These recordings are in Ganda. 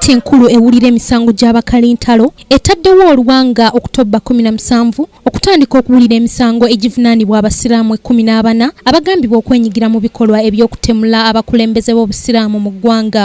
kkooti enkulu ewulira emisango gy'abakalintalo etaddewo oluwanga okutobba 17 okutandika okuwulira emisango egivunaanibwa abasiraamu ekkumi n'abana abagambibwa okwenyigira mu bikolwa eby'okutemula abakulembeze b'obusiraamu mu ggwanga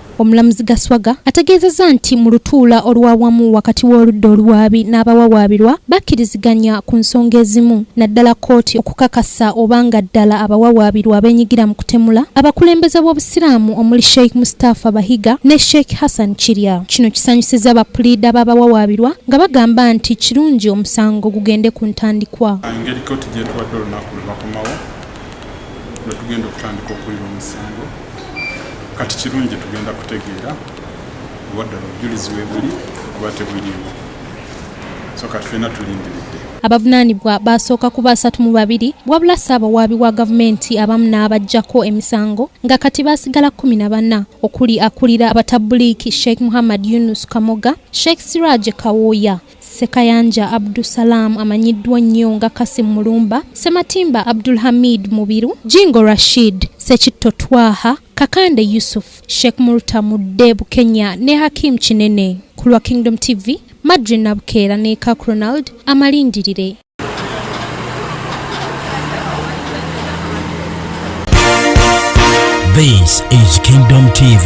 Omulamuzi Gaswaga ategeezezza nti mu lutuula olwawamu wakati w'oludda oluwaabi n'abawawaabirwa bakkiriziganya ku nsonga ezimu naddala kkooti okukakasa oba nga ddala abawawaabirwa abeenyigira mu kutemula abakulembeze b'Obusiraamu omuli Sheikh Mustafa Bahiga ne Sheikh Hassan Kirya. Kino kisanyusizza bapuliida b'abawawaabirwa nga bagamba nti kirungi omusango gugende ku ntandikwa. Engeri kkooti gy'etuwadde olunaku lwe bakomawo lwe tugenda okutandika okuwulira omusango kati kirungi tugenda kutegeera oba ddala obujulizi webuli oba tebuliiwo so kati fena tulindiridde abavunaanibwa baasooka kuba asatu mu babiri wabula ssaabawaabi wa gavumenti abamu n'abaggyako emisango nga kati baasigala kkumi na bana okuli akulira abatabbuliiki sheikh muhammad yunus kamoga sheikh siraje kawooya Ssekayanja Abdu Salaam amanyiddwa nnyo nga Kasim Mulumba, Ssematimba Abdul Hamid Mubiru, Jingo Rashid, Ssekitto Twaha, Kakande Yusuf, Sheikh Murta Mudde Bukenya ne Hakim Kinene. Ku lwa Kingdom TV, Madri Nabukeera ne Kak Ronald amalindirire. This is Kingdom TV.